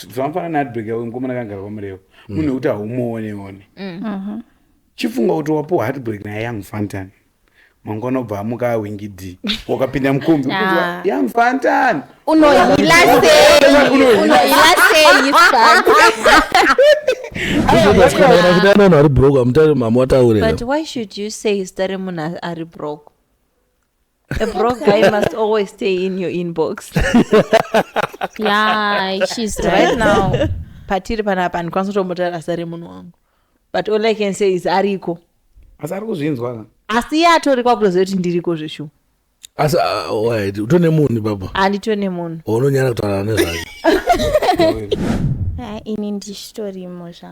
zvamafana neadbag yavo mukomana kangara kwamureva mm. munhu wekuti haumuone one mm. uh-huh. chifunga kuti wapuwa heartbreak naye young fantan mangwana obva amuka awingi d wakapinda mukombi kuzwa young fantan unohila seyiaari brokmamawataurewhy should you say zita remunhu ari brok A broke guy must always stay in your inbox. yeah, she's right, right now. Patiri panapa ndikwanisa kutomutara sare munhu wangu. But all I can say is ariko. Asi ari kuzvinzwa ka? Asi iye atori kwakutoziva kuti ndiriko zveshuwa. Asi ah, wait, utone munhu baba? Anditone munhu. Unonyara kutaura nezvacho. Ah, ini ndichitorimo zva.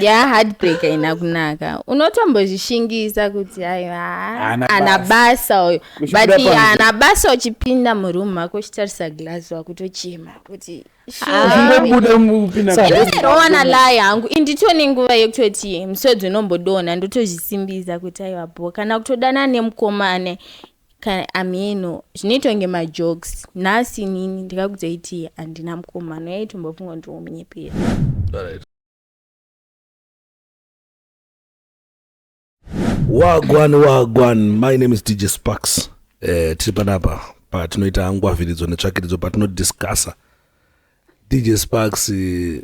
ya heartbreak haina kunaka unotombozvishingisa kuti ana basa uyo but ana basa uchipinda muroom mako uchitarisa glass wakutochema kuti aona lai hangu indito nenguva yekutoti musodzi unombodonha ndotozvisimbisa kuti aiwa bo kana kutodana nemukomane ameno zvinoitonge majokes nhasi nini ndikakutoiti handina mukomano yaitombofunga kuti womunyepera wagwan wagwan my name is dj sparks eh, tiri panapa patinoita ngwavhiridzo netsvakiridzo patinodiscussa dj sparks eh,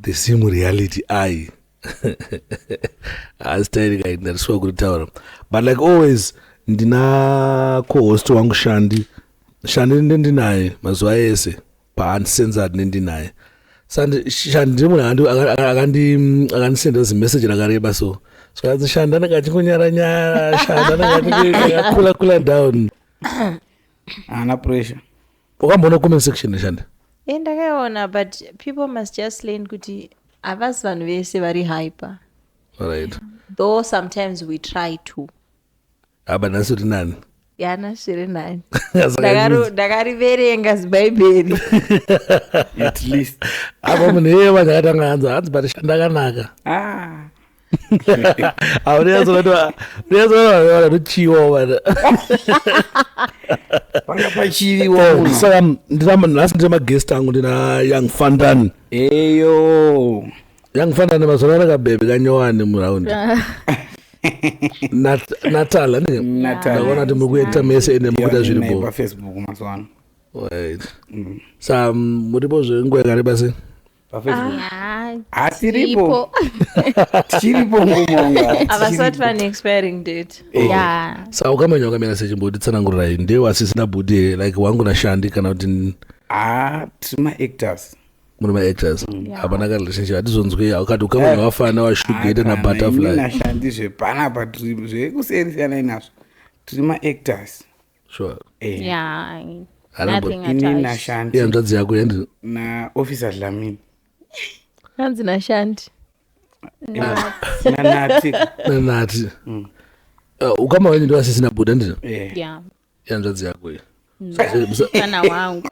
the sim reality ai asi tairika ndariswa kuritaura but like always ndina cohost wangu shandi shandi ndendinaye mazuva ese paandisenza tine ndinaye shandi ndiri munhu akandisendera zimeseji rakareba so zvikanzi shandi anenge achingonyara nyara shandi anenge achikula kula down haana pressure wakamboona comment section neshanda e eh, ndakaiona but people must just learn kuti havasi vanhu vese vari hyper right though sometimes we try to haba nhasi uri nani yana zviri nani Ndakaro- ndakariverenga zibhaibheri at least apa munhu iyeye vanhu akatanga hanzi hanzi pati shandakanaka ah. auneyazonatoauneyazonatoaona tochiwa vana panga pachiviwo munhu saka ndina nhasi ndina magest angu ndina young fandan eyo yangifanana mazora rakabebe kanyowani muraundi natal anenge ndaona kuti muri kuita mese ene mukuita zviri bo mm. sa mm, muripo zvenguva yakareba sei hatiripo tichiripo ngumaavasati vane expiring date sa ukamenya ukamera sechimboti tsanangururai ndewe asisina budi like wangu nashandi kana kuti haa ah, tiri maactors muri maactors mm. hapana ka relationship hatizonzwei haukati ukaona eh, vafana vashugeta nabutterfly nashandi zvepanapa tiri zvekuseri siyanai nazvo tiri maactors sure eh. yeah ini nashandi hanzvadzi yako yendi na officer dlamini hanzi nashandi nanati nanati mm. uh, ukama wenyu ndovasisina buda ndizvo eh. ihanzvadzi yako iyi mwana wangu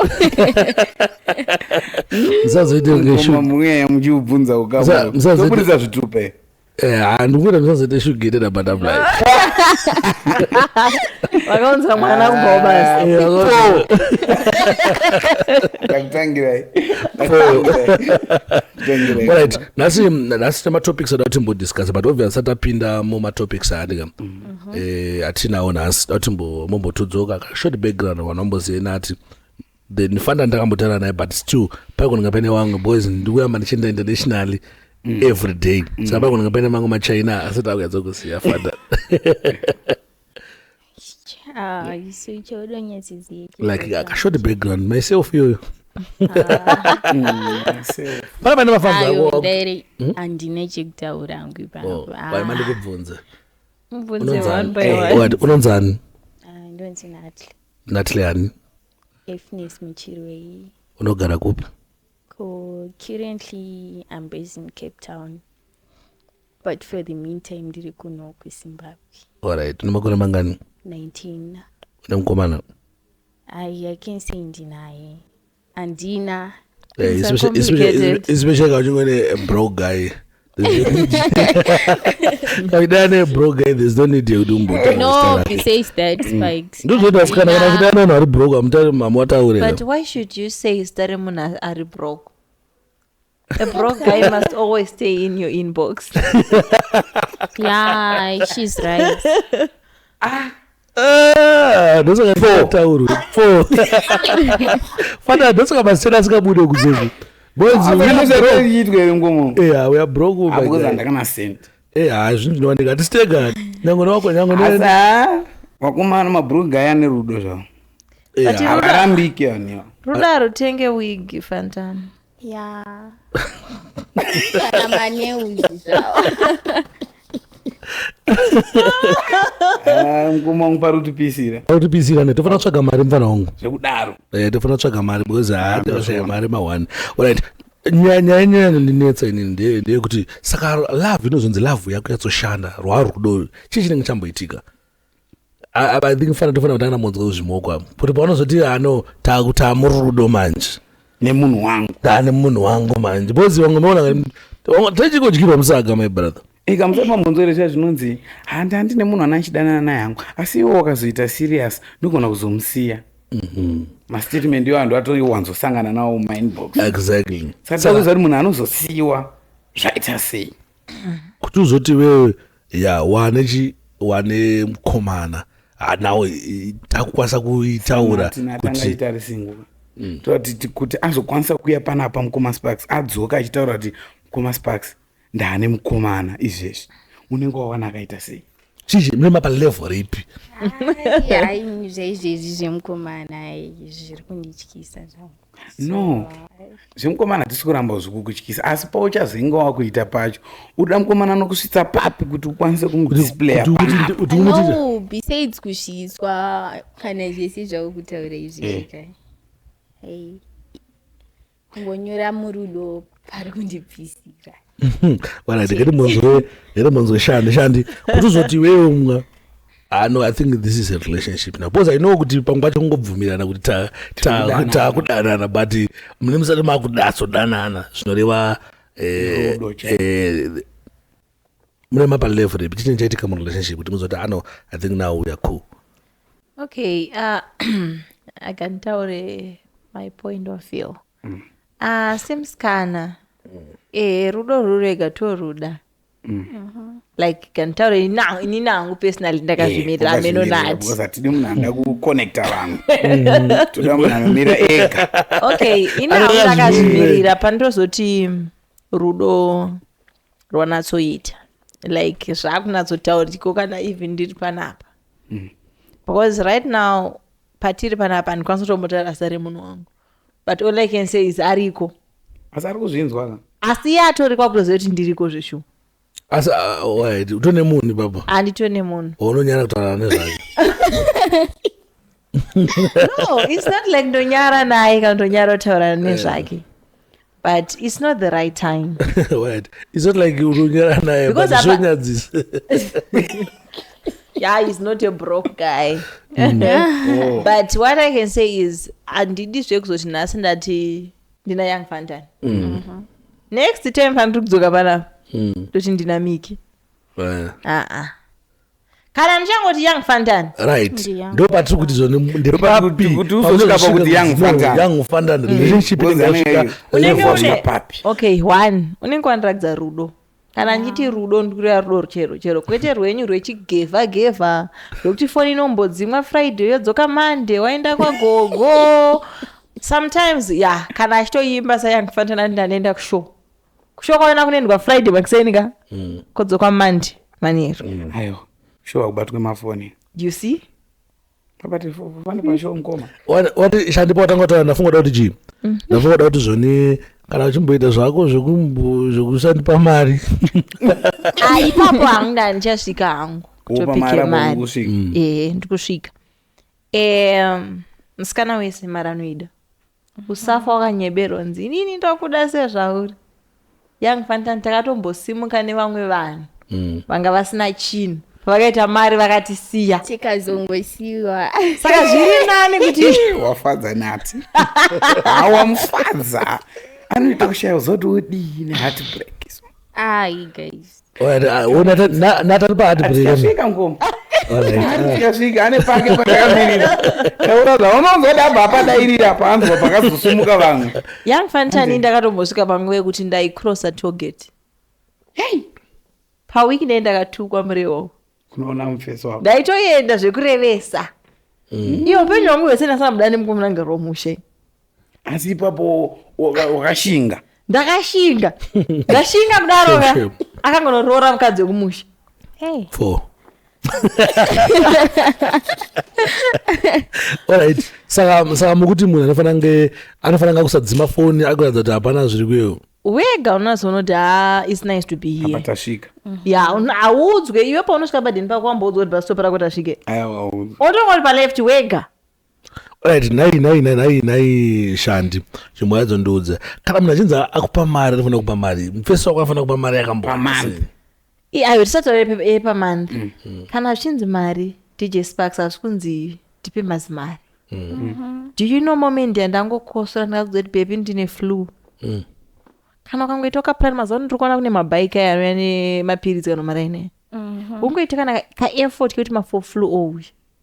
musazoite kungemweya muchiubvunza ukamusazoburitsa zvitupe eh, ah, ndikuita musazoite shugerera butterfly vakaunza mwana ah, kubva ubasi right nhasi nhasi tematopics ada kuti mbodiscuss but obvious satapinda mumatopics aadika mm. mhm. eh, hatinawo nhasi dati mombotodzoka kashort background wanomboziva nati then ndifanda ndakambotara naye but still paikonanga paine wangu boys ndikuyamba ndichienda internationally mm. every day mm. saka paikonanga paine mangu machina asati akuyadza kusiya fada ah, like akashort background myself iyoyo pana pane mafambi andine chekutaura hangu ipaoaimandikubvunza unonzani natle ani unogara kupi currently i'm based in cape town but for the meantime ndiri kuno kuzimbabwe allright une makore mangani 19 une mukomana i can say ndinaye handina eh, especially kauchingwe nebro guy kakuita ane broke eh, there's no need yekuti umbotandozoita vasikana kana kuita ane vanhu ari broke amutari mama wataurira but why should you say zita remunhu ari broke A broke guy must always stay in your inbox. yeah, she's right. Ah. Ah, ndosaka ndataurwe fo fana ndosaka masitena asingabude kuzezvi boyzvinowanika atisitega nyango newako nyango vakomana mabruga aya nerudo zvavo eh, avarambike aniwa rudo arutenge wigi fantana Yeah. Kana maneuzi zvawo. Ah, mkoma wangu parutipisira arikutisira ne tofana kutsvaga mari mfana wangu zvekudaro Eh, tofana kutsvaga mari because haa tikashaya mari ma one alright nyaya nyaya nyaya inondinetsa ini ndeye ndeyekuti saka love inozonzi love yako yatsoshanda rwarudo chii chinenge chamboitika i think fana tofanira kutanga namonzwa kuzvimoko avo kuti pavanozoti ano takutaa murudo manje nemunhu wangu taa nemunhu wangu manje because vamwe maona techikodyirwa musaga my brother ikamusema monzoresha zvinonzi handi handi nemunhu ana achidanana naye hangu asi iwo wakazoita serious ndogona kuzomusiya mhm. mastatement iwo andu atowanzosangana nawo mumainbox exactly saka takuziva kuti munhu anozosiyiwa zvaita sei kuti uzoti wewe ya wane chi wane mkomana ah, now eh, takukwanisa kuitaura Martin atanga kuti achitarise nguva toti ti- kuti azokwanisa kuuya panapa mukoma sparks adzoka achitaura kuti mukoma sparks ndaane mukomana izvezvi unenge wawana akaita sei chii mune mapa level ripi Ai, zvaizvezvi zvemukomana ai, zviri kundityisa zvangu no zvemukomana hatisi kuramba zvikukutyisa asi pauchazoinga wakuita pacho uda mukomana anokusvitsa papi kuti ukwanise kumudisplaybesides kusvitswa kana zvese zvakukutaura izvi eh. zvika kungonyora murudo pari kundibvisira Alright, ngati munzwe, ngati munzwe shandi, shandi. Kuti uzoti iwewe umwa. Ah no, I think this is a relationship now. Because I know kuti pamwe pacho kungobvumirana kuti ta ta Tikudanana. takudanana but mune musati makudatso danana zvinoreva eh Rudo chete. eh mune mapa level repi chini chaitika mu relationship kuti muzoti ah no, I think now we are cool. okay uh, i can tell uh, my point of view mm. ah, semusikana mm. ehe rudo rurega toruda mm. uh-huh. like kanditaura ini nangu personally ndakazvimirira eh, ameno nati atidi munhu anoda kuconnecta vanhu toda munhu anomira ega okay ini hangu ndakazvimirira pandozoti rudo rwanatsoita like zvakunatsotauriko kana even ndiri panapa mm. because right now patiri panapa ndikwanisa kutombotarasa remunhu wangu but all i can say is ariko asi ari kuzvinzwa ka asi iye atori kwakutoziva kuti ndiriko zveshuwa asi ah, oh, wait, utone munhu ipapo handitone munhu unonyara kutaura nezvake no its not like ndonyara naye kana ndonyara kutaurana nezvake but it's not the right time what it's not like urunyara naye but zvonyadzisa yeah he's not a broke guy mm. oh. but what i can say is handidi zvekuzoti nhasi ndati ndina young fantan mm. mm -hmm. next time faniri kudzoka panapa mm. toti ndina miki aa uh -uh. kana ndichangoti young fandan right Ndi young. ndo patiri kuti zvo Kuti- kuti uzosvika pakuti young Fantan. young fandan relationship Because inenge anenge- yasvika unenge level Unenge wasvika une- papi? okay one unenge wandiratidza rudo kana ndichiti rudo ndikureva rudo ruchero chero kwete rwenyu rwechigevha gevha rwekuti foni inombodzimwa friday yodzoka monday waenda kwagogo sometimes ya kana achitoimba sayandifanira ndandenda kushow kushuwa kwaona kunoendwa friday makuseni ka mm. kodzoka monday manheru mm. aiwa shuwa kubatwe mafoni you see shandipa watanga taura ndafunga da kuti chii mm. ndafunga da kuti zvoni kana uchimboita zvako zvekusandipa mari aipapo ah, hangu nda ndichasvika hangu kutopike mari mm. ehe ndikusvika musikana wese mari anoida usafa wakanyeberwa nzi inini ndokuda sezvauri young fantan takatombosimuka nevamwe vanhu mm. vanga vasina chinhu vakaita mari vakatisiya tikazongosiwa saka zviri nani kuti wafadza nati awamufadza anoita kushaya uzoti udii nehati break ai guys nataripaatibreaika ngoma asvika ane pake patakamirira taura zvaunonzwa dabva apadairira panzwa pakazosumuka vamwe young fantani ndakatombosvika panguva yekuti ndaicrossa toget hei pawiki nei ndakatukwa murewo unoona mufeso wako ndaitoenda zvekurevesa mm. iyo upenyu hwangu hwese ndasana buda nemukomana ngaro womushe asi ipapo wakashinga ndakashinga ndashinga kudaroka akangonoroora mukadzi wekumusha hey. four alright saka saka mukuti munhu anofanira kunge anofanira kunge akusadzima foni akuratidza kuti hapana zviri kuyewo wega unazonoti ha its nice to be here apa tasvika ya hauudzwe iwe paunosvika padhini pako wamboudzwa kuti pasitopa rako tasvike aiwa otonga kuti paleft wega right nhai nhai nhai nhai nhai shandi chimwe yadzo ndiudze kana munhu achinzi akupa mari anofanira kupa mari mufesi wako anofanira kupa mari yakambo pamari I- ayo tisati taura yepamonth Mm. kana zvichinzi mari dj sparks hazvi kunzi tipe mazimari Mm. do you know moment yandangokosora ndikakuzoti bebi ndine flu Mm. kana ukangoita ukaplan mazuva ano tiri kuona kune mabhaiki aya anouya nemapiritsi kana maraine ungoita kana kaeffort kekuti mafo flu ouya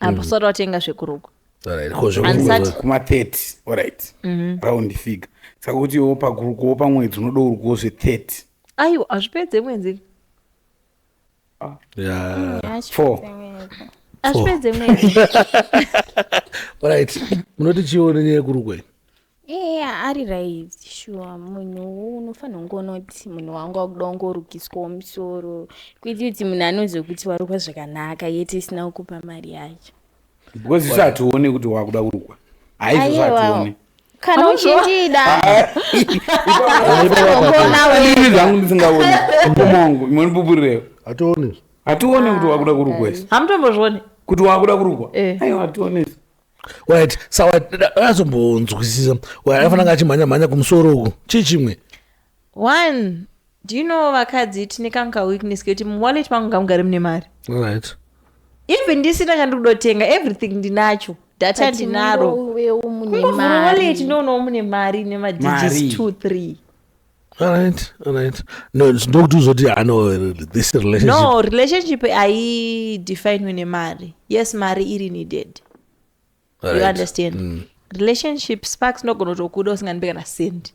apa usati watenga zvekurukwa Alright, ko zvekuti- Ansati. kuma 30 orit Mhm. round figure saka kuti iwo pakurukuwo pamwedzi unoda urukuwo zve 30 aiwa hazvipedze mwedzi Yeah. Four. hazvipedze mwedzi Alright, munoti chione nyaya yekurukwa iyi? eya ari right shuwa munhu unofanira kunge unoti munhu wangu akuda kungorukiswawo musoro kwete kuti munhu anozokuti warukwa zvakanaka yete isina kukupa mari yacho because isu hatione kuti wakuda kurukwa haizvozvo hatione kana uchindida zvangu ndisingaoni mukoma wangu imwe ndipupurirewo hatione hatione kuti wakuda kurukwa isu hamutombozvione kuti wakuda kurukwa eh. aiwa hatione isu right sawa azombonzwisisa afanira nga achimhanya mhanya kumusoro uku chii chimwe one do you know vakadzi tine kanka weakness kekuti muwallet mangu ngamugare mune mari right even ndisina kandikudotenga everything ndinacho data ndinaro kungovhura wallet ndoonawo mune mari ine madigits two three Alright, alright. No, ndokuti uzoti ano this relationship. No, relationship haidefinwe nemari. Yes, mari iri needed. Right. You understand? Mm. Relationship sparks nogona kutokuda usingandipe kana sendi.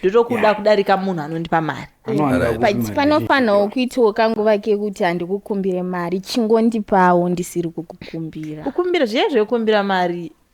ndotokuda kudarika munhu anondipa mari panofanirwa kuitiwo kanguva kekuti handikukumbire mari chingondipawo ndisiri kukukumbira kukumbira zviye zvekukumbira mari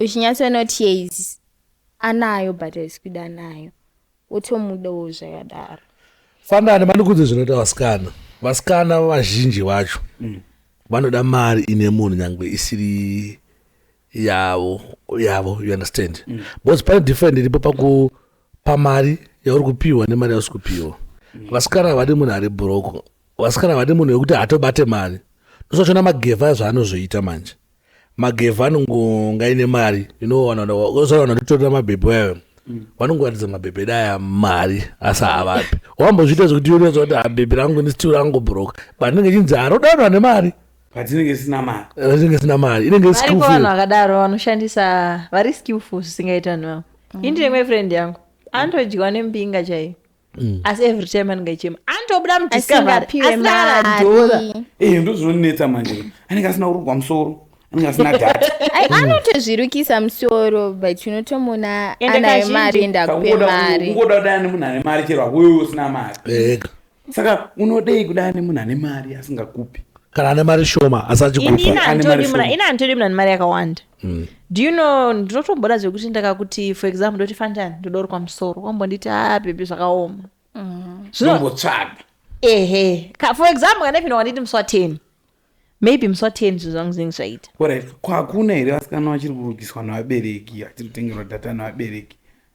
uchinyatsonoti yes anayo but haisi kuda anayo wotomudawo zvakadaro fanani manikudzi zvinoita vasikana vasikana vazhinji vacho mm. vanoda mari ine munhu nyange isiri yavo yavo you understand mm. because pane different iripo pakupa mari yauri kupiwa nemari yausi kupiwa mm. vasikana vadi munhu ari broko vasikana vadi munhu wekuti hatobate mari ndosachona magevha zvaanozoita manje magevha anongonga ine mari inowanaaana nditorera mabhebhe ayo mm. vanongoratidza mabhebhe daya mari asi havapi wambozviita zvekuti yoratidza kuti habhebhe ah, rangu nisitiu rangu broka patinenge chinzi harodanwa ah, nemari patinenge sina mari patinenge sina mari inenge vanhu vakadaro vanoshandisa vari skillful zvisingaita vanhu vavo mm. indine mwe friend yangu anotodyiwa nembinga chaiyo Mm. asi every time anenge achichema anotobuda mudiscoveryasinaradhora eh, ndozvinonetsa manje anenge asina kurogwa musoro anenge asina data anotozvirukisa musoro but unotomona anayo mari enda kupe mari ungoda kudana nemunhu ane mari chero akuyo usina mari saka unodei kudana nemunhu ane mari asingakupi kana ane mari shoma asachikupaini anditodi munhu ane mari yakawanda Mm. do you know ndinotomboda zvekuti ndakakuti for example ndoti fanjani ndodorwa musoro wambonditi a bhebhi zvakaoma Zvino- Nombotsvaga. ehe Ka- for example kana ipinda wanditi musi wa 10 maybe musi wa 10 zvinhu zvangu zvinenge zvaita Alright, ko hakuna here vasikana vachiri kurugiswa nevabereki vachiri kutengerwa data nevabereki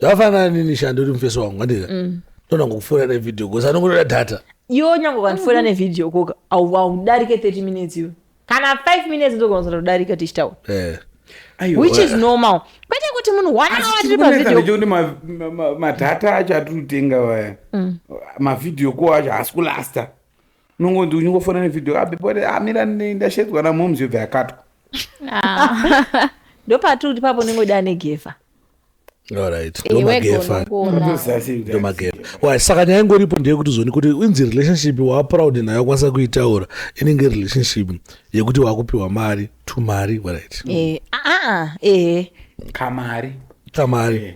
zvakafanana nini shando iri mufeso wangu andika mm. tona ngokufona nevideo kosi anongotoda data iwe nyange ukandifonera nevideo koka haudarike 30 minutes iwe kana 5 minutes ndokonzera kudarika tichitaura eh. which is normal kwete kuti munhu one hour tiri pavideochoti madhata acho atiri kutenga vaya mm. mavideo ko acho haasi kulasta unongonzi unyingofona nevideo abepore ah, amira ah, ndashedzwa namoms yobva yakatwa ah. ndopatiri kuti papo ndingoda anegefa saka nyaya ingoripo ndeyekuti zoni kuti inzi relationship waaproud nayo kwanisa kuitaura inenge relationship yekuti waakupiwa mari to mari warit eh, ah, ah, eh. kamari tamari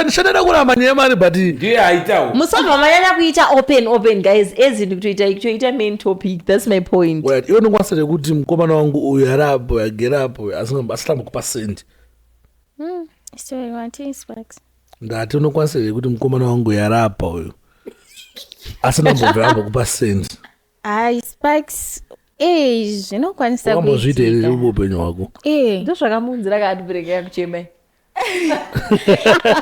shandada kuramba nyaya mari but ndiye aitawo musabva manyanya kuita open open guys as in kutoita kutoita main topic that's my point iwe ndokwanisa rekuti mukomana wangu uyu ari apo agere apo asitamba kupa sendi Mm, story watii sparks ndati unokwanisa here kuti mukomana wangu yarapa uyu asina mbobva amba kupa send hayi sparks ee zvinokwanisa wambozviita here kuitika. uri upenyu hwako Ee. ndozvakamuunzira kaadbreak yakuchemai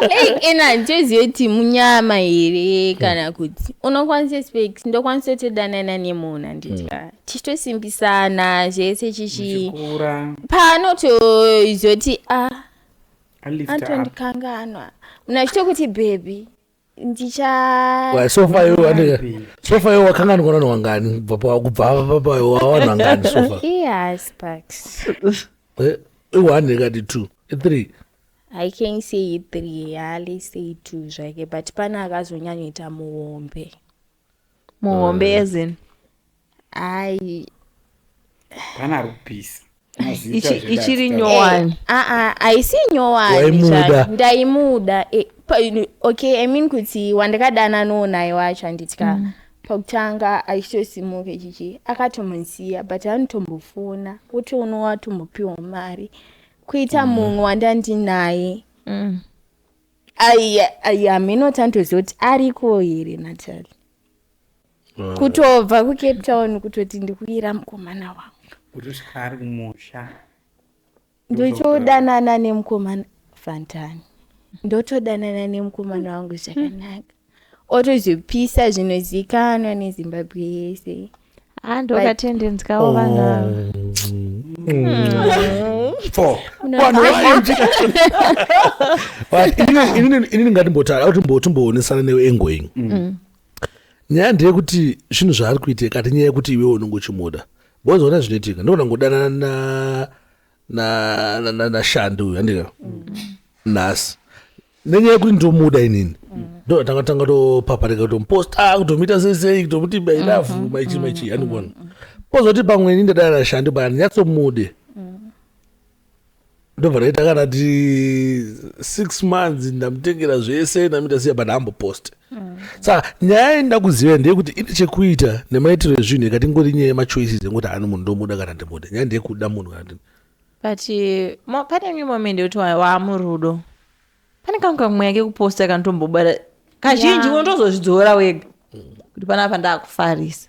Like, ena njozi yoti munyama here kana kuti unokwanisa specs ndokwanisa kutodanana nemunhu handiti ka tichitosimbisana zvese chichi pano tozoti a ah, antondikanganwa mna chitokuti bhebhi ndichasofa yo wakanganwa nani wangani kubva papa wawana ngani sofa i-one ikati two i-three i can say i-three hali say two zvake but pane akazonyanyoita muhombe muhombe as in ai Pana ari kupisa. Mazita Ichi- zvedati ichiri taura. nyowani aa haisi nyowani Waimuda. zvayo. ndaimuda Eh, pa- okay i mean kuti wandakadana no naye wacho handitya pakutanga achitosimuka chichi akatomusiya but anotombofona wotoona watombopiwa mari kuita mumwe wandandinaye Mm. hamheno tantoziva kuti ariko here natali ah. kutobva kucape town kutoti ndikuyira mukomana wangu kutosvika ari kumusha ndochodanana nemukomana fantani ndotodanana nemukomana wangu zvakanaka otozvipisa zvinozikanwa nezimbabwe yese Ah, ndokatendenzikawo vanhu ava. Four. Una- Vanhu vazhinji. But inini- inini- inini ngatimbotara kuti mbo- timboonesana newe engoing nyaya ndeyekuti zvinhu zvaari kuita kati nyaya yekuti iwewe unongochimuda bozoona zvinoitika ndogona kungodanana na nashandi uyu andika mm. nhasi nenyaya yekuti ndomuda inini mm. ndotanga tanga topaparika kutomuposta ah, kutomuita sesei kutomuti mailavu mm-hmm. maichii maichii mm-hmm. andikuona pozoti pamwe ini ndadana nashandi paya ndinyatsomude ndobva ndaita kana ti six months ndamutengera zvese ndamuita siya but hamboposte saka nyaya yainda kuziva ndeyekuti ine chekuita nemaitiro ezvinhu ikati ngori nyaya yemachoices ekuti ani munhu ndomuda kana ndimuda nyaya ndeyekuda munhu kana ndi but uh, pane imwe moment yekuti waamurudo pane kamwe kamweya kekuposta kanotombobara kazhinji unotozozvidzora wega kuti panapa ndakufarisa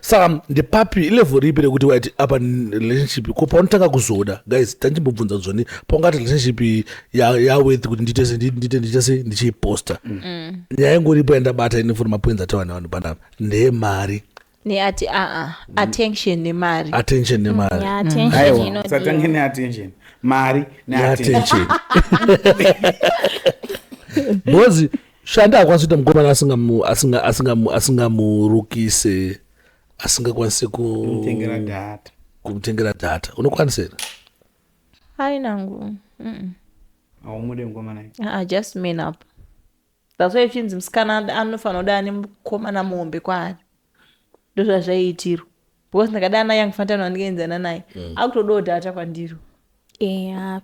saka ndepapi ilevel ripi rekuti waiti apa relationship ko paunotanga kuzoda guys tandimbobvunza zvoni paungati relationship yaworth kuti ndiite se ndiite ndiite se ndichiiposta mm. nyaya ingoripo yandabata ine foni mapoinzi atawa nevanhu panapa ndeyemari neati aa ah, ah, mm. attention nemari attention nemari mm, aiwa satange neattention mari neattention bhozi shanda akwanisa kuita mukomana asingamurukise asingakwanise kumutengera data kumutengera data unokwanisa here hai nangu haumude mukomana ah, just man up that's why chinzi musikana anofanira kuda ane mukomana muhombe kwaari ndozvazvaiitirwa because ndakada ana young fantan wandikaenzana naye mm. akutodawo data kwandiro yeah,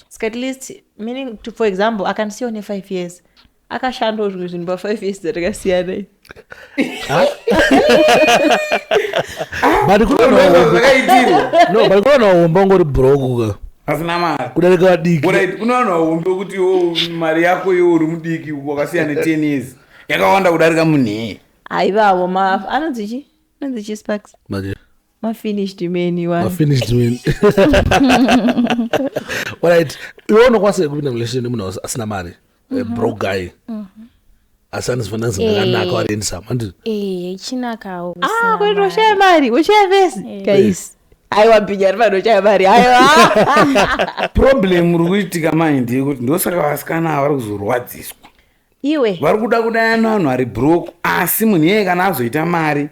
ska at least meaning to, for example akandisiyawo nefive years akashandawo zvimwe zvinhu pafive years dzatakasiyana but kunoona wahomba ungori brokuka asina mari kudarika vadiki kunoona wahombe wekuti mari yako yo uri mudiki wakasiya ne ten years yakawanda kudarika munhee haivawo ma anonzi chi anonzi chi sparks Manje. mafinished many one mafinished men alright iwe unokwanisa here kupinda mulation nemunhu aus- asina mari a broke guy asi anozifana zinhu rakanaka Eh. ariendisa mandi Eh, ichinakawo ah kusina kwete mari. ushaya mari ushaya vese Eh. guys aiwa bhinya ari vanhu ushaya mari aiwa problem uri kuitika mai ndeyekuti ndosaka vasikana ava vari kuzorwadziswa iwe vari kuda kudayana vanhu ari brok asi munhu iyeye kana azoita mari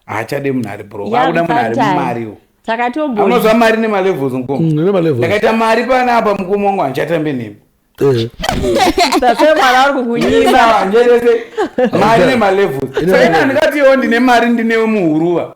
haachade munhu ari brok akuda munhu ari mumariwo takatoamazva mari nemalevels mukomndakaita mm, mari pana apa mukoma wangu handichatambe nemi eh. tasemwana ari kukunyima njerese mari nemalevels saina ndikatiwo ndine mari ndinewe muhuruva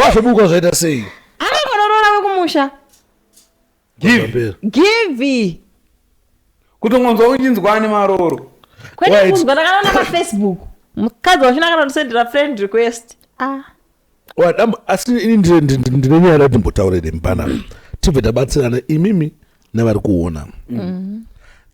vazobuka zvaita sei anongonorora wekumusha givi kutongonzwa uchinzwa ane maroro kwete kunzwa ndakanaona pafacebook mukadzi wachina kana ndisendera friend request ah. asi ini ndine nyaya rati mbotaure nemupana tibve tabatsirana imimi nevari kuona mm.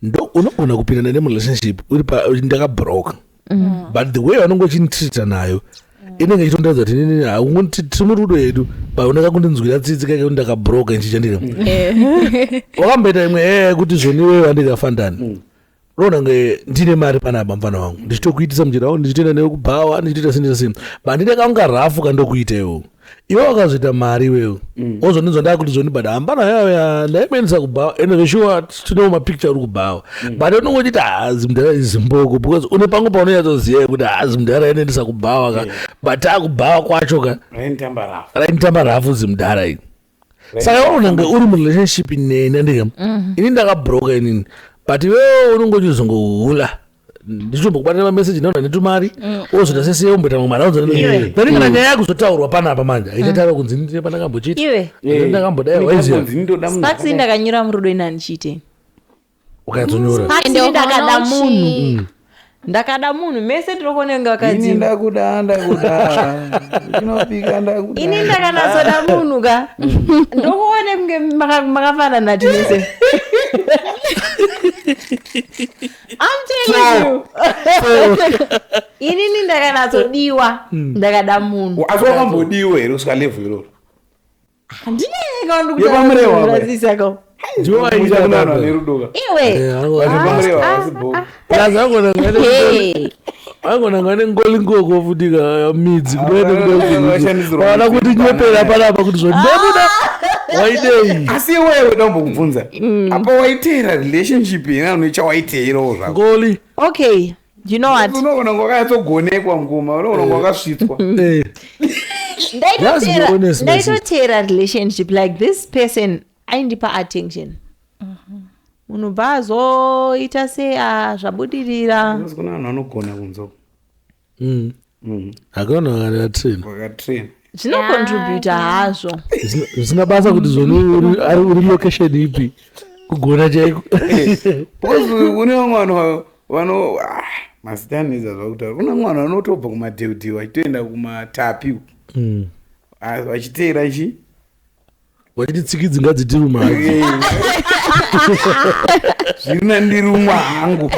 ndo unogona kupindana nemurelationship uri pa ndakabroka mm. but the way vanonge uchinitreata nayo mm. inenge ichitondiratidza kuti nini haungoti tiri murudo yedu but unaka kundinzwira tsitsi kaike kuti ndakabroka ichichandika wakamboita imwe ee kuti zvoniweyo andikafandani unoona kunge ndine mari pana apa mfana wangu ndichitokuitisa mujira wangu ndichitoenda newe kubhawa ndichitoita sini na sini but ndine kaunga rafu kandokuita iwewo iwe wakazoita mari iwewo mm. wozondinzwa ndakuti zvondibada hambana yaya ndaimuendesa kubhawa and veshuwa tinewo mapicture uri kubhawa mm. but unonge uchiti haazi mudhara izimboko because une pangu paunoyatoziva kuti haazi mudhara inoendesa kubhawa ka but akubhawa kwacho ka rainitamba rafu zimudhara ii saka unenge uri murelationship neni ndike mm. ini ndakabroka inini but iwewe unenge uchizongohula ndichitombokubata mameseji ndaona netumari mm. ozoita sese omboita mamwe mari aozoaani kana nyaya yakuzotaurwa panapa manje haitatara mm. kunzi ndine pandakambochiita ndakambodaiwaiziyasparks ndakanyura murudo inani chiitei ukanyatonyora Ende ukaona ndakada uchi- munhu ndakada munhu mese tinokonenga ini vakadzi ndakuda ndakuda chinopika ndakuda ini ndakanatsoda munhu ka ndokuone kunge maka- makafanana tinese I'm telling you. inini ndakanatsodiwa ndakada munhu asi wakambodiwa here kusvika level iroro aigona ngane ngolingoko futi ka midzi kudoaana kuti nyepera panapa kuti zvandamuda waidei asi iwewe weda kumbokubvunza apa waiteera relationship ina unoicha waiteerawo zvakoli okay Do you know what? unoona kwakanyatsogonekwa ngoma unoona kwakasvitswa Eh, That's the honest message. ndaitoteera relationship like this person aindipa attention munhu bva azoita se ah, zvabudirira Unonzi kuna vanhu vanogona kunzoko mm. akaona kana train wakatrain zvinocontributa hazvo Zvisina- zvisina basa kuti zvoni uri- ari uri location ipi kugona chaiko because une vamwe vanhu va- vano ah, mazita anetsa zvakutaura kune vamwe vanhu vanotobva kumadheudheu vachitoenda kumatapi uku. Ah, vachiteera chi vachiti tsikidzi ngadzitiruma hadzo zviri nandirumwa hangu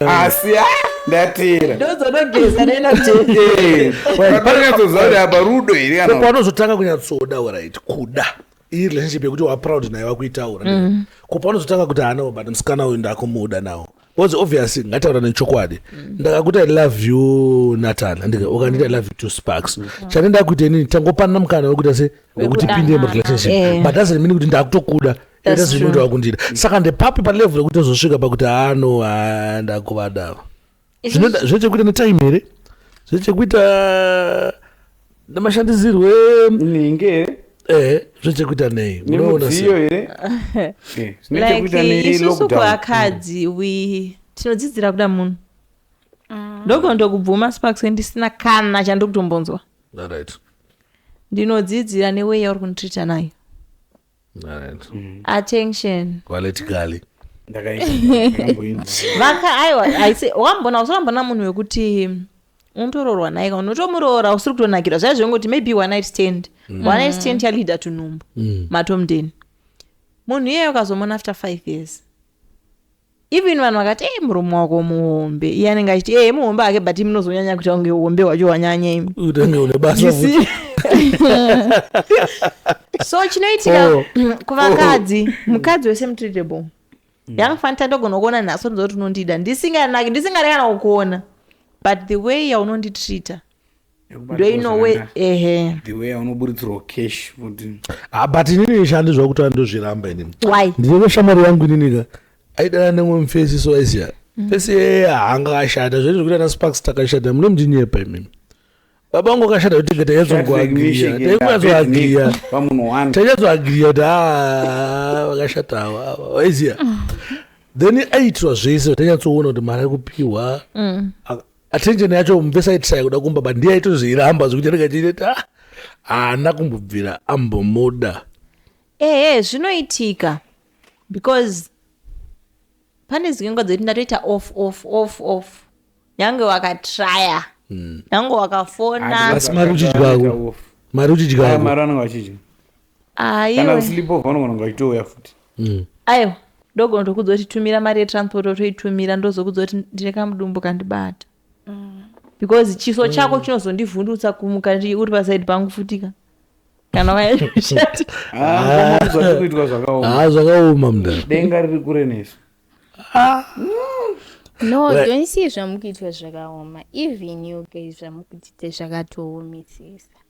asi ah, ndatera ndozonogeza nena Eh, pakanyatsozva kuti apa rudo here kana kopanozotanga kunyatsoda orit kuda iyi relationship yekuti waproud naye wakuitaura ko panozotanga kuti hanawo but musikana uyu ndakumuda nawo was obvious ngataura nechokwadi mm. ndakakuti i love you natan andike ukanditi i love you two sparks mm. chane ndakuita inini tangopanana mukana wekuita se wekuti pinde murelationship eh. but doesn't mean kuti ndakutokuda etazinoita wakundida mm. saka ndepapi palevel yekuti tozosvika pakuti hano ah, ndakuvadava zvine chekuita netime here zvine chekuita nemashandisirwo nhingi here ehe zvechekuita nei unoona sei nemidziyo here Eh, zvine like chekuita isusu nelockdown kuvakadzi we tinodzidzira kuda munhu ndogona tokubvuma sparks ndisina kana chandiri kutombonzwa Alright. ndinodzidzira neway yauri kunditreata nayo Alright. attention Quality Kali. vaka aiwa aise wambona usambona munhu wekuti unotoroorwa naye ka unotomuroora usiri kutonakirwa zvaiva zvengoti maybe one night stand mm. one night stand yaleader to nhumbu mm. matomdeni munhu iyeyo ukazomona after five years even vanhu vakati ee murume wako muhombe iye anenge achiti ee muhombe ake but imi munozonyanya kuita kunge uhombe hwacho hwanyanya imi utenge une basa futi so chinoitika oh. kuvakadzi oh. mukadzi wese mutreatable mm. young fanta ndogona kuona nhasi ndizoti unondida ndisinganaki ndisingareka kana kukuona but the way yaunonditreata ndoinowe ehe the way anoburitsirwa cash kuti ah but inini shandi zvakuti andozviramba inini why ndine shamwari yangu inini ka aidana nemwe mfesi so aisiya mm. fesi yeye hanga ashata zvese zvekuti ana sparks takashata mune mndinyepa imimi baba vangu akashata kuti tinge tainyatsokuagiria tainyatsoagiria tainyatsoagiria kuti haa vakashata ava waiziya then aiitirwa zvese tainyatsoona kuti mari ari kupiwa mm. attention yacho mvesa itisai kuda kumba but ndiye aitoziramba zvekuti anenge achiita ah, haana kumbobvira ambomuda ehe zvinoitika because pane zinyengo dzekuti ndatoita off off off off nyange wakatraya nyange wakafona Asi mari uchidyako mari uchidyako mari anenge achidya kana kusleep over unogona kungaitouya futi mm. aiwa ndogona tokudza kuti tumira mari yetransport otoitumira ndozokudza kuti ndine kamudumbu kandibata mm. because chiso mm. chako chinozondivhundutsa kumuka uri pasaidi pangu futika kana vayaishati ah, ah, zvakaoma mdadenga riri kure nesu ah. no right. don't see zvamukuitwa zvakaoma even you guys zvamukutite zvakatoomisisa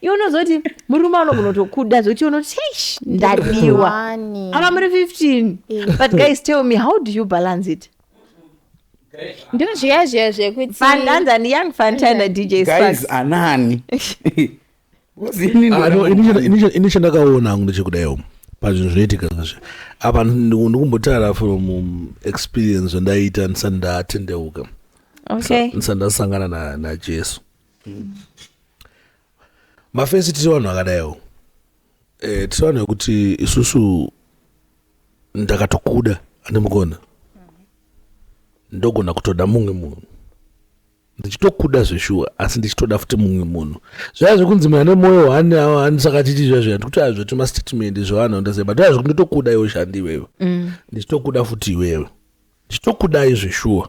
iwe unozoti murume anogona kutokuda zvekuti unoti eish ndadiwa Wani. apa muri 15 but guys tell me how do you balance it ndiri zviya zviya zvekuti fandanza ni young fantan na dj guys sparks anani Because ini Ah, no, ini ndinoda- chanda- ini chanda- ini chandakaona hangu ndechekudaio pazvinhu zvinoitika zvazvo apa ndiku- ndikumbotaura from um, experience zvandaita ndisati ndatendeuka okay ndisati ndasangana na- najesu mafensi tiri vanhu vakadaiwo eh, tiri vanhu vekuti isusu ndakatokuda andimukona ndogona kutoda mumwe munhu ndichitokuda zveshuwa asi ndichitoda futi mumwe munhu zvaya zvekunzi mwana nemwoyo wani anisaka chiti zviya zviya ndikuti aya zvetuma statement zvevanhu ndazia but aya zvekuti iwewe shandi iwewe mm. ndichitokuda futi iwewe ndichitokudai zveshuwa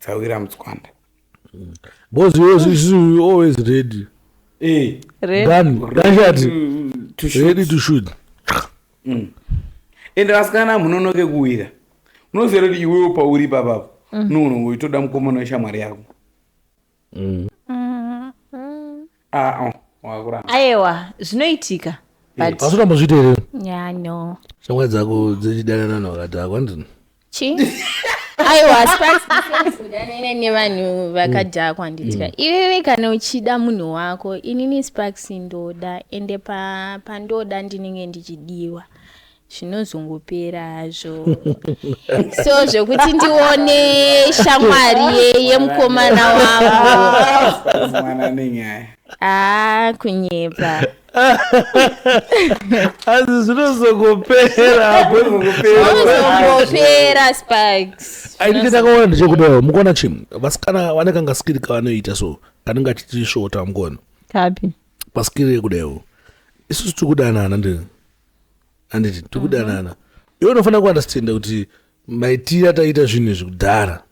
dzawira mutswanda mm. because you always, you always ready eh. ready. Done. Ready, to shoot. ready to shoot mm. ende vasikana munonoke kuwira unoziva kuti iwewo pauri papapo mm. nounongoitoda mukomana weshamwari yako mm. ah, oh, wakuramba ayewa zvinoitika but asi utambozviita here Yeah, no. shamwari dzako dzichidanana navakadhakwa ndini Chi? Aiwa, asi pasi kudanana nevanhu vakadhakwa nditya. Iwewe kana uchida munhu wako, inini Sparks ndoda ende pa pandoda ndinenge ndichidiwa. zvinozongopera hazvo so zvekuti ndione shamwari yemukomana wanguaa ah, kunyepa asi zvinozongopera zvinozongopera sparks aiti ndakaona ndichekudawo mukuona chim vasikana vane kangasikiri kavanoita so kanenge achitisvota mukuona kapi pasikiri yekudawo isusu tikudanana ndini handiti tiri kudanana mhm. iwe unofanira kuunderstanda kuti maitira taita zvinhu izvi kudhara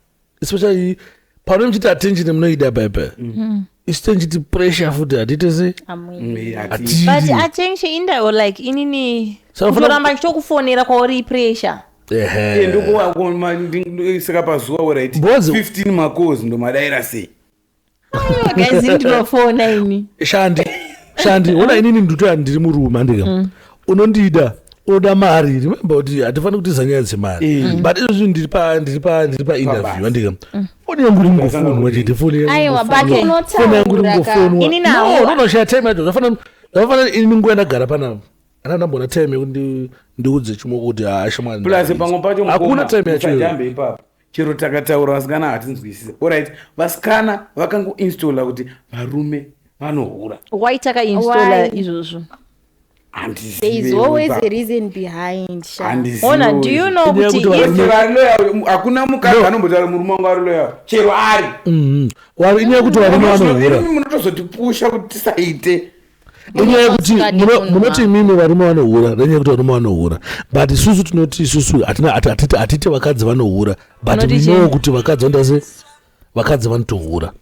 especially pano muchiti attention munoida paipai mhm. isu tenchiti pressure futi hatiite sei atiioramba ndichitokufonera kwauri pressure ndokuwakomasaka pazuva werit 15 makozi ndomadaira sei shandi shandi ona inini ndutoya ndiri murume andika mm. unondida unoda mari remember kuti hatifaniri kutiza nyaya dzemari eh. mm. but izvozvi ndiri pa ndiri pa ndiri pa interview andika mm. foni yangu iri kungofonwa chete foni yangu iri kungofonwa no no no shaya time yacho zvafanana zvafanana ini nguva ndagara panapa ana ndamboona time yekuti ndiudze chimoko kuti haashamwari plus pamwe pacho hakuna time yacho ipapo chero takataura vasikana hatinzwisise orit vasikana vakangoinstalla kuti varume vanohura why takainstalla izvozvo hakuna mukadzi anombotaura murume wangu ari loyal chero ari mm-hmm. inyaya yekuti varume vanohura munotozotipusha kuti tisaite inyaya yekuti munoti imimi varume vanohura nenyaya yekuti varume vanohura but isusu tinoti isusu hatiti vakadzi vanohura but minowo kuti vakadzi vandase vakadzi vanotohura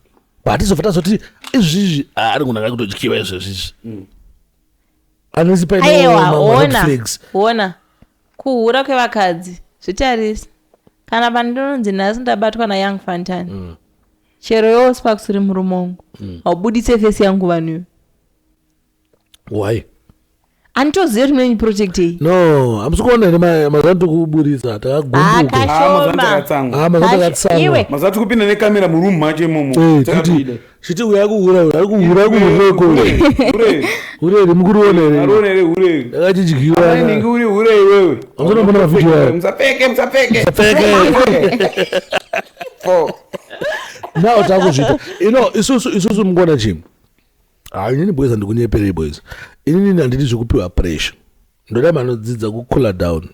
but hatizobva tazoti izvizvi ari munhu aka kutodyiwa izvezvizvi mm. anesi painewona kuhura kwevakadzi zvitarisi kana pandinonzi nhasi ndabatwa nayoung fantan mm. chero yowo sparks uri murume wangu mm. haubuditse fesi yangu vanhu iwe why anitoziva kuti mune project iyi no hamusi kuona here mazuva tikuburitsa takagumbukaakashomaiwe mazuva tikupinda nekamera muroom macho imomo chiti uya kuhura uya kuhura kuhureko hure rimukuriona here ndakachidyiwa ndingi uri hure iwewe hamusanambona mavhidhiyo ayo musapfeke musapfeke musapfeke now takuzvita ino isusu isusu mukona chii hainini boys handikunyepere boys inini handidi zvekupiwa pressure ndoda manodzidza kucooler down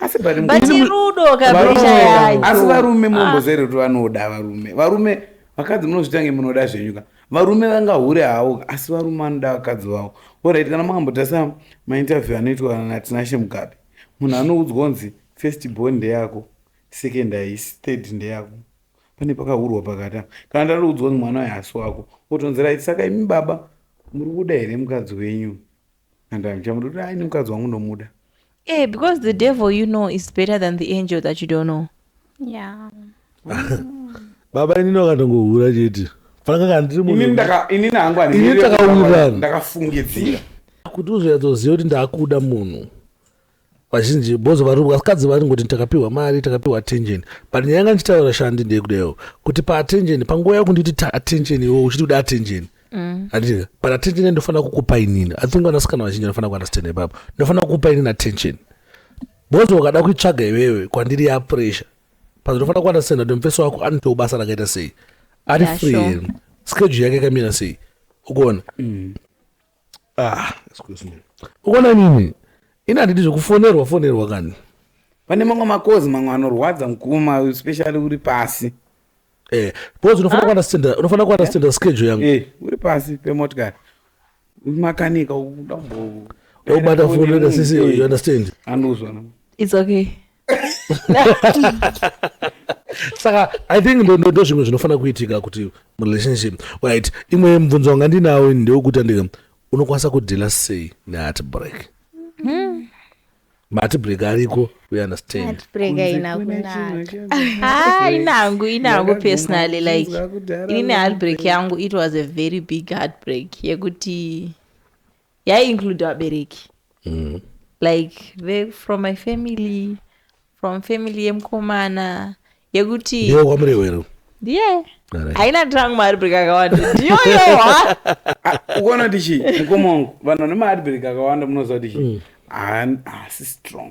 asi rudo kapresha yacho asi varume mumbozverudo vanoda varume varume vakadzi munozvita nge munoda zvenyuka varume vangahure hawo asi varume vanoda vakadzi vavo orit kana makambotarisa mainterview anoitwa natinashe mugabe munhu anoudzwa kunzi first born ndeyako second haisi third ndeyako pane pakahurwa pakati apa kana ndariudzwa kuti mwana uyu haasi wako otonzi right saka imi baba muri kuda here mukadzi wenyu and amuchamuda kuti aini mukadzi wangu ndomuda Eh, because the devil you know is better than the angel that you don't know. Yeah. baba inini vakatongohura chete fanaka kana ndiri munhu- inini ndaka- inini hangu Inini takawirirana. handikafungidzira kuti uzonyatsoziva kuti ndakuda munhu vazhinji bozo vari vakadzi vari ngoti takapiwa mari takapiwa attention but nyaya yanga ndichitaura shandi ndeyekudayo kuti paattention panguva yakunditi ta attention iwo uchiti kuda attention mm. andika but attention ndofanira kukupa inini i think vanasikana vazhinji anofanira kuunderstand ipapo ndofanira kukupa inini attention bozo ukada kuitsvaga iwewe kwandiri ya pressure but ndofanira kuunderstand kuti mufeso wako anotiwo basa rakaita sei ari free schedule yake kamira sei ukuona mm. Ah, excuse me. Ukona nini? Ini handidi zvekufonerwa fonerwa kani. Pane mamwe makozi mamwe anorwadza mukuma especially uri pasi. Eh, because unofanira ah. kuwana standard, unofanira kuwana eh? standard schedule yangu. Eh, uri pasi pemotikari. Makanika uda kumbo. Ubata fonera sisi, you understand? Anozwa. It's okay. saka i think ndo zvimwe zvinofanira kuitika kuti murelationship right imwe mubvunzo wanga ndinawo ndewekuti andika unokwanisa kudhila sei neheart break hmm. mati break ariko we understand ah, inangu inangu personally like ini neheartbreak yangu it was a very big heartbreak yekuti yaiinclude vabereki mm. like ve from my family from family yemukomana yekuti ndiyo kwamurewero ndiye yeah. haina drang maadbreak akawanda ndiyoyo ha ah, ukuona kuti chii mukoma wangu vanhu vane maadbreak akawanda munoziva kuti chii mm. haasi strong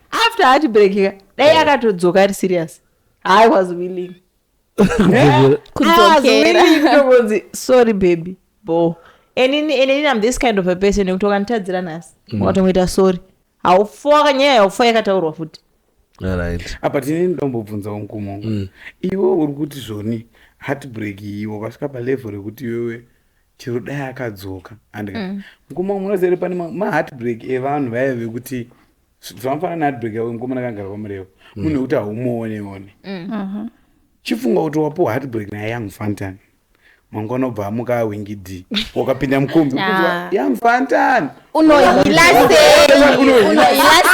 after heart break ka dai akatodzoka ari serious i was willing kudzokera ndokunzi sorry baby bo and ini and ini i'm this kind of a person yekuti wakanditadzira nhasi wakatongoita sorry haufa wakanyaya haufa yakataurwa futi Alright. apa tine ndambobvunzawo mkuma wangu iwe uri kuti zvoni heartbreak iyi wakasvika palevel rekuti iwewe chero dai akadzoka andika mkuma wangu unozere pane ma- maheartbreak evanhu vaya vekuti zvamafana neadbag yavo mukomana kangara kwamurewo mm. munhu wekuti haumuone one mm. uh-huh. chifunga kuti wapuwa heartbreak naye young fantan mangwana obva amuka awingi d wakapinda mukombi ah. young fantan unohila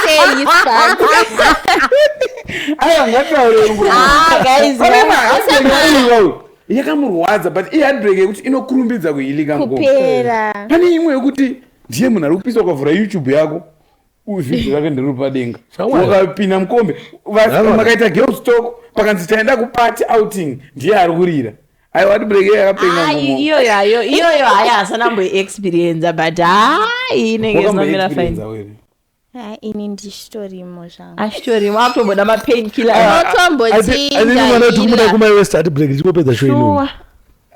sei aya ngataure nguva ah, yakamurwadza but iheartbreak yekuti inokurumbidza kuhilika mukopera pane imwe yekuti ndiye munhu ari kupiswa ukavhura youtube yako uzvidzi rake ndiruri padenga wakapinda mukombe makaita girls talk pakanzi taenda kupati outing ndiye ari kurira aiwa tibreke yakapenaiyoyo ayo iyoyo hayi asana mboiexperienza but hayi inenge inomira fine Ah, ini ndichitorimo zvangu achitorimo ah, akutomboda mapain killer anotombotinotoda ah, kumai west ati break ndichikopedza show inoa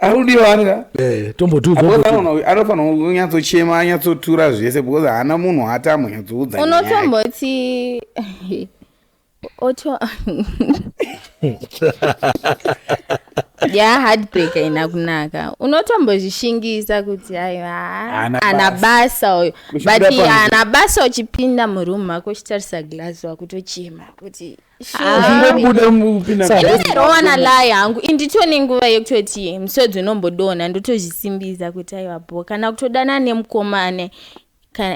arudiwa anga eh, anofanira kunyatsochema anyatsotura zvese because haana munhu haati amonyatsoudza unotomboti oto ya heartbreak haina kunaka unotombozvishingisa kuti haana basa uyo but haana basa uchipinda muroom mako uchitarisa glass wakutochema kuti zvingobudarowana layi hangu indito nenguva yekutoti musodzi unombodonha ndotozvisimbisa kuti aiwa bo kana kutodana nemukomane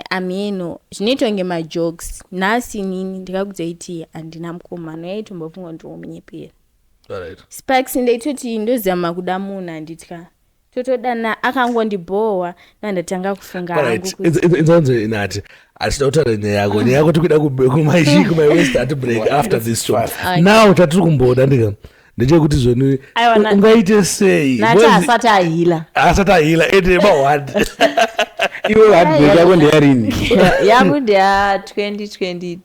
amheno zvinoita kunge majokes nhasi nini ndikakuzoiti handina mukomano yaitombofunga kuti womunyepera sparks ndaitoti ndozama kuda munhu handitya totodana akangondibhohwa ndandatanga kufunga hangu inzonzi inati hatida kutaura nyaya yako nyaya yako tikuda kumaichii kumaiwest ati break after this show now tatiri kumboda ndika ndechekuti zveni ungaite sei asati ahila asati ahila ende mahwani iwe hatbreak yako ndeyarini yangu ndeya 2022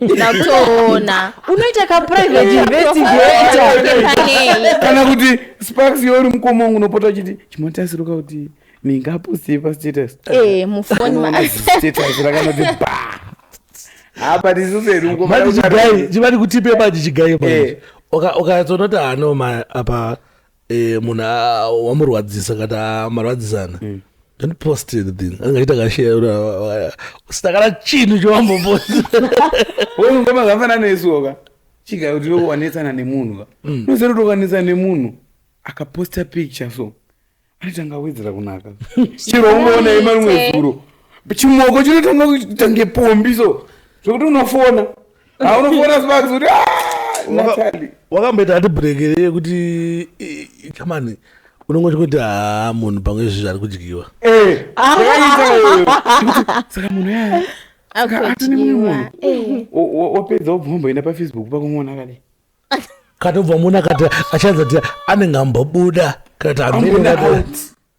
ndakutoona unoita kaprivate investigator kana kuti sparks yori mukoma wangu unopota uchiti chimotasiruka kuti mingaposte pastatus eh mufoni ma status rakanoti ba apa tisuseruko manje chigai chivati kutipe manje chigai manje Eh. Uka- ukazoona kuti hano ma apa eh, munhu a- wamurwadzisa kana amarwadzisana Mm. don't post anything angaita kashare usina kana chinhu chowambopost we mukoma zvakafanana nesuoka chiga kuti wekuwanetsana nemunhu ka Mm. unoziva kuti ukanetsana nemunhu akaposta picture so anotanga awedzera kunaka chero ungoona ima rimwe zuro chimoko chinotanga kutange pombi so zvekuti unofona aunofona sparks kuti natali wakamboita ati brekere yekuti chamani unongo chikuti haa munhu pamwe izvi zviri kudyiwa saka munhu yaya ati nemumwe munhu wapedza wobva wamboenda pafacebook pakumona kadi katobva muna kati achanzati anenge ambobuda kati amene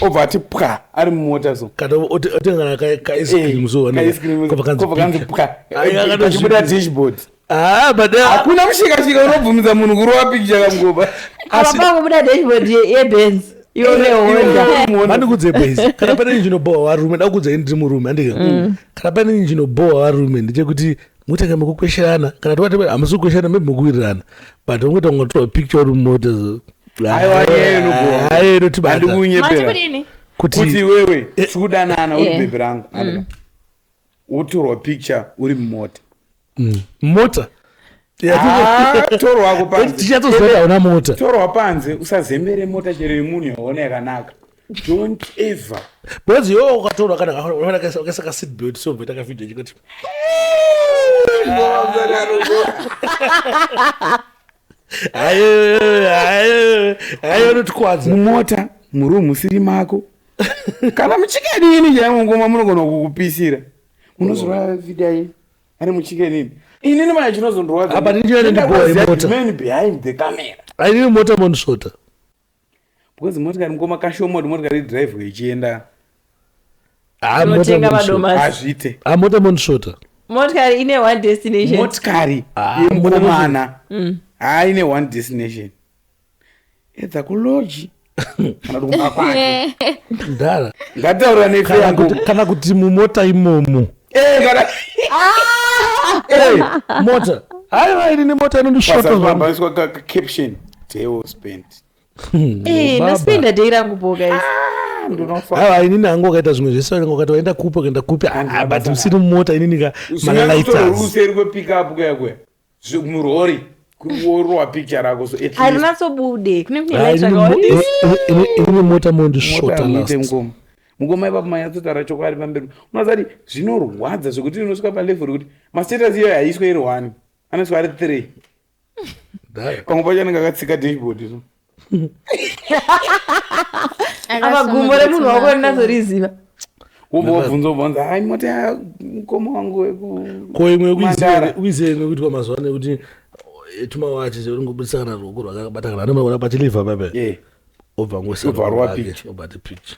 obva ati pwa ari mumota so kana oti- otengana ka- ka ice Eh, cream so ka ice cream, kobva kanzi kobva kanzi pika. pwa Ai, Eh, akatozvi- pachibuda dashboard Ah, but ah, hakuna mushikashika unobvumidza munhu kurova pikicha kamugoba apa pakubuda dashboard ye- yebenz ione honda mandikudze bas kana pane injinobowa varume ndakukudzai ndiri murume andike kana pane injinobowa varume ndechekuti mutenge mukukwesherana kana tova tebe hamusi kukwesherana maybe mukuwirirana but ungoita kunga tora picture uri mumota aiwayeinotibaandikunyeperakuti kuti wewe eh. sikudanana uri eh. bhebhi rangu mm. wotorwa picture uri mumota mm. mota ah, torwako panze tichatozoona mota torwa panze usazembere mota chero yemunhu yaona yakanaka don't ever because iwe wakatorwa kana wakaisa ka seat belt so mboita ka video chikati ayo anotikwadza mumota muroom musiri mako kana muchikenini chaimungoma munogona kukupisira munozora video iyi ari muchikenini inini maya chinozondorwadza apa ndindiyo nendiboe mota behind the camera ainini mota monisvota because motikari mukoma kashoma kuti motikari idrivhwe ichienda hazviite amota monshota motikari ine one destination motikari ah, yemukomana mm. haine one destination edza kuloji kana kuti kumba kwake ndara ngataura nefe yangu kana kuti mumota imomo mota haiwa ini nemota inondishotoaiswa caption teo spent eh, naspenda dei rangu boka ah, haiwa ini nangu wakaita zvimwe zvese nanga wakati waenda kupi ukaenda kupi ah, but usiri mumota ini nika malalaitsauseri kwepikapu kuyakwe murori kuorowa picture rako so at harinatsobude kune kune light rakawaine mota mondisvota last mukoma mukoma ipapo manyatsotaura chokwadi pamberi unozati zvinorwadza zvekuti inosvika palevel rekuti mastatus iyoyo haiswe iri one anosvika ari three pamwe pacho anenge akatsika dashboard so apa gumbo remunhu wako ndinazoriziva wobva wabvunza wobvunza hai moti ah, mukoma wangu wekuko imwe ukuizive imwe kuitwa mazuva ano yekuti eh, tumawachi zveringobudisa kana ruoko rwakabata kana anomaona pachilivha pape obva ngosarwa picha obati picha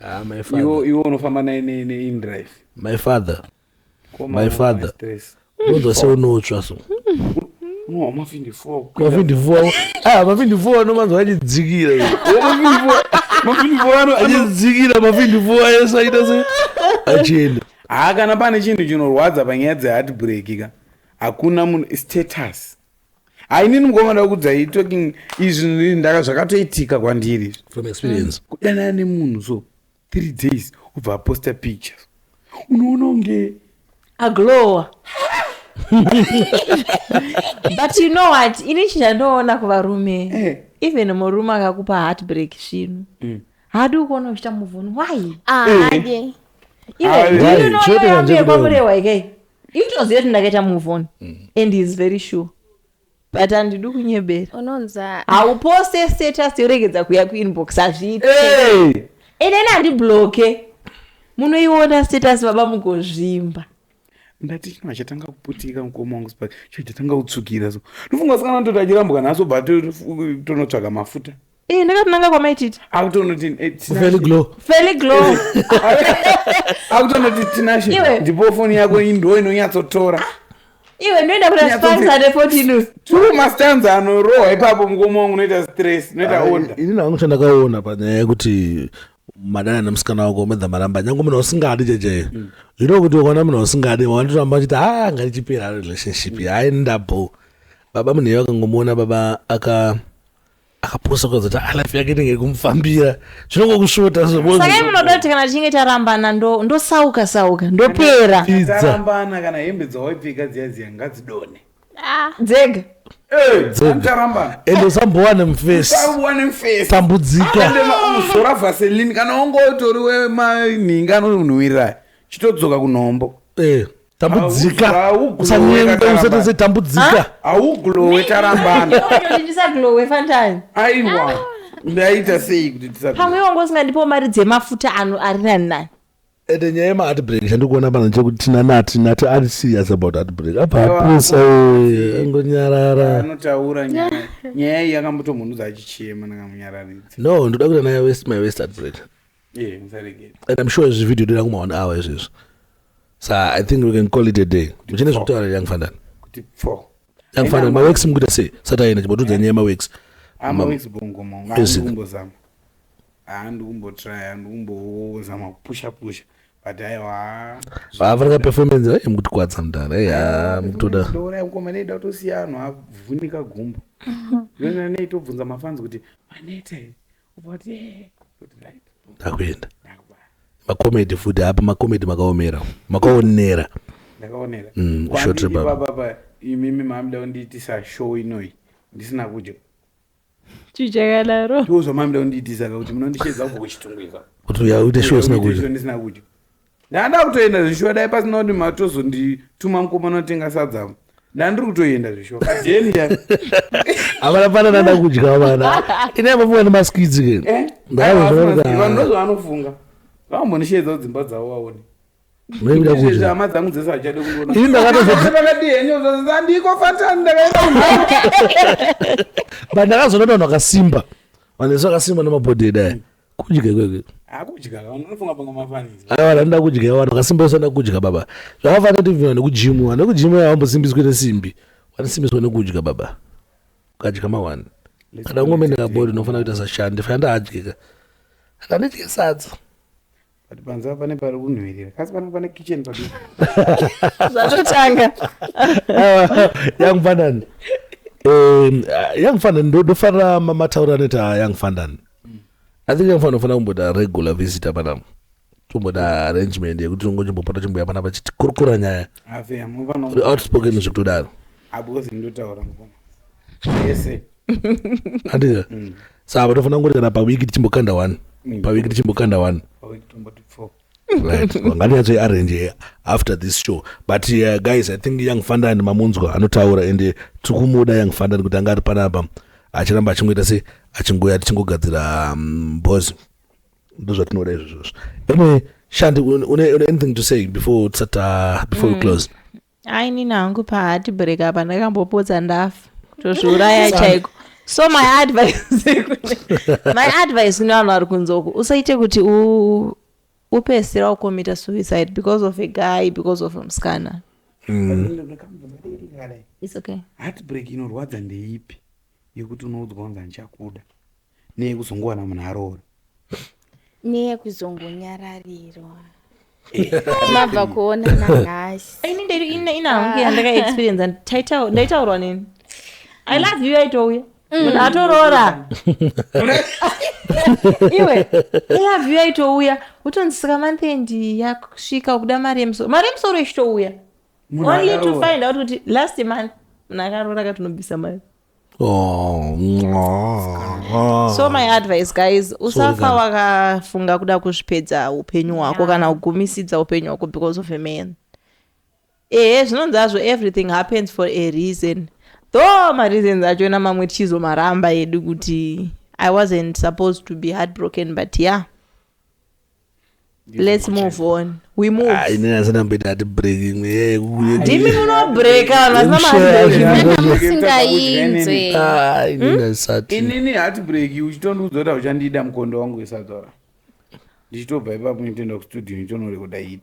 Ah, iwe unofamba naye neindrive my father my father unonzwa seunotsva so mavindivua ah, mavindivua anomanzwa achidzikira achidzikira mavindivua ese aita se achienda haa kana pane chinhu chinorwadza panyaya dzeheartbreak ka hakuna munhu status hainini mukoma ndakudzai talking izvi ndaka zvakatoitika kwandiri from experience kudanana nemunhu so three days ubva aposta pictures unoona unge aglowa but you know what ini chindandoona kuvarume eh. even murume akakupa heartbreak svinu mm. haadi ukuona uchita muvuni why haadi iweamurewa ikei itoziva kuti ndakaita muvuni mm. and is very sure but handidi kunyebera unonza hauposte status yoregedza kuya kuinbox hazviiti Hey! inene handibloke munoiona status baba mugozvimba ndati chino achatanga kuputika mukoma wangu spa chino chatanga kutsvukira so ndofunga sikana ndoti achirambwa nhasi obva ato- tonotsvaga mafuta Eh, ndakatonanga kwamaititi akutonoti eh, Tinashe. Very glow. feli glow akutonoti tinashe Iwe. ndipo foni yako iyi ndo inonyatsotora iwe ndoenda kuna Nyatso- spans ane 14 news two mastans anorohwa ipapo mukoma wangu unoita stress unoita onda ini nangu chandakaona panyaya yekuti madana nemusikana wako umedza maramba nyange munhu usingadi jeje you know kuti ukaona munhu usingadi wanditoramba achiti ha ngarichipera relationship hayi ndabho baba munhu iye akangomuona baba aka akaposa kuzoti ah, life yake inenge kumufambira zvinongokusvota sakai munoda kuti kana tichinge tarambana ndosauka sauka ndopera tarambana kana hembe dzawaipfeka dziya dziya ngadzidone ah. dzega endosambowane mfesitambudzikauzora ah, vaselini kana ongotori wemanhinga anonhuwirira chitodzoka kunhombo eh. tambudzika usanyengwe usatese tambudzika hauglowe tarambana ndisaglowe fantime aiwa ah. ndaita sei kuti pamwe wangu usingandipo mari dzemafuta ano ari nani nani ende nyaya yemaheartbreak chandikuona pano chekuti tina nati nati ari serious about heartbreak apa apusa eh, angonyarara anotaura nyaya nyaya iyi yakambotomhunudza achichema ndakamunyararidza no ndoda kuita naye west my west heartbreak yeah, and i'm sure izvi video dira kuma one hour izvezvi so i think we can call it a day muchine zvekutaura young fandani young fandani mawex mukuita sei sati aenda chibotudza nyaya mawex amawex bongoma ngaandiumbozama andikumbotraya ndikumbozama kupusha pusha but aiwa vafanira performance vaye mukutikwadza mudhara eya mukutoda ndouraya mukoma neida kutosiya anhu avhunika gumbo yona nei tobvunza mafanzi kuti manete ndakuenda macomedy futi apa macomedy makaomera makaonera ndakaonera Mm, Kwandiri short rebaba. baba apa imimi mamda kundiitisa show inoyi ndisina kudya chichakadaro ndiwozvo mamda kundiitisa ka kuti munondishedza kubva kuchitungwiza kuti uya uite show usina kudya ndisina kudya ndanda kutoenda zvishuwa dai pasina kuti matozondituma mukomana otenga sadza ndandiri kutoenda zvishuwa kadenia havana pana nanda kudya vana ine mafunga nemaskidzi ke eh? ndazvaa ndozvaanofunga vambondisheedza kudzimba dzavo vaone hama dzangu dzese hachade kuonaandiko fatani ndakaendabandakazonodonhu akasimba vanhu vese vakasimba nemabhodhedaya kudya ikoko aiwa vanoda kudya vanhu vakasimba vese vanoda kudya baba zvakafanira kuti vana nekujimu vana nekujimu havambosimbiswi nesimbi vanosimbiswa nekudya baba ukadya mawani kana ngomene kabori unofanira kuita sashandi fana ndaadyika handidye sadza but panze apa pane pari kunhuhwirira kasi panapa pane kitchen padi zvatotanga young fandan um, young fandan ndofanira mataura neta young fandan i think young fandan unofanira kumboda regular visitor panapa tomboda arrangement yekuti tongochimbopota chimbuya panapa chitikurukura nyaya outspoken zvekutodaro abozimndotaura mukoma yese andida mm. saa patofanira kungoti kana pawiki tichimbokanda one mm. pawiki tichimbokanda one ngatinyatso arrange after this show but uh, guys i think young fundan mamunzwa anotaura ende tiri kumuda young fundan kuti anga ari panapa achiramba achingoita se achingoya tichingogadzira um, bos ndozvatinoda izvozvozvo anyway shandi une anything to say before tisata before mm. we close Ai nini hangu pa heartbreak apa ndakambopotsa ndafa kutozviuraya chaiko so my advice my advice kune vanhu vari kunze uku usaite kuti u upesera ukomita suicide because of a guy because of musikana Mm. It's okay. heartbreak inorwadza ndeipi yekuti unoudzwa kunzi handichakuda neyekuzongowana munhu aroora neyekuzongonyararirwa mabva kuona nanhasi ini ndedu ina ina hangu yandakaexperienza taitaur- ndaitaurwa neni i love you yaitouya munhu atoroora iwe i love you yaitouya utonzi saka manthendi yakusvika ukuda mari yemusoro mari yemusoro ichitouya Munhu only to akaroora. find out kuti last month munhu akaroora akatonobvisa mari Oh, mwah. so my advice guys usafa wakafunga kuda kuzvipedza upenyu hwako kana kugumisidza upenyu hwako because of a man ehe zvinonzi hazvo everything happens for a reason though mareasons achona mamwe tichizomaramba edu kuti i wasn't supposed to be heartbroken but yeah Let's move on. We move. Ah, ini asina mbida ati break imwe yeye kuye. Ndimi muno break kana asina mahari. Kana musingainzwe. Ah, ini hmm? ndasati. Ini ni hati break uchitondiudza kuti uchandida mukondo wangu wesadora. Ndichitobva ipapo nditoenda kustudio ndichinorekoda hit.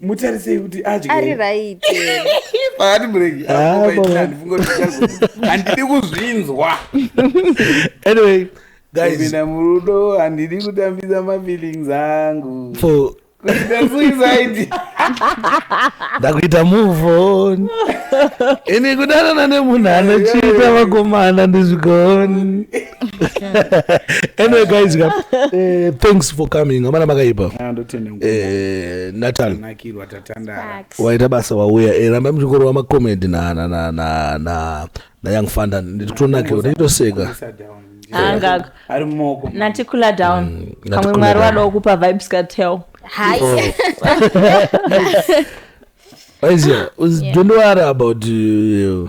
mutarisei kuti adye ari right paati muregi Ah, baba. handidi kuzvinzwa anyway guys kupinda murudo handidi kutambisa mafeelings angu for kuita suicide ndakuita move on ini kudanana nemunhu anochiita vakomana ndizvigoni anyway guys ka eh, thanks for coming amana makaipa Ah, ndotenda nguva. eh, natal Nakirwa tatandara. waita basa wauya eh, rambai muchingorova macomedi na, na, na, na, na, na young fanda ndikutonakirwa ndichitoseka Kuisa down. Anga- Ari mumaoko. natikula down kamwe natikula mwari down. wadawo kupa vibes katel Hi. aiziva don't worry about uh,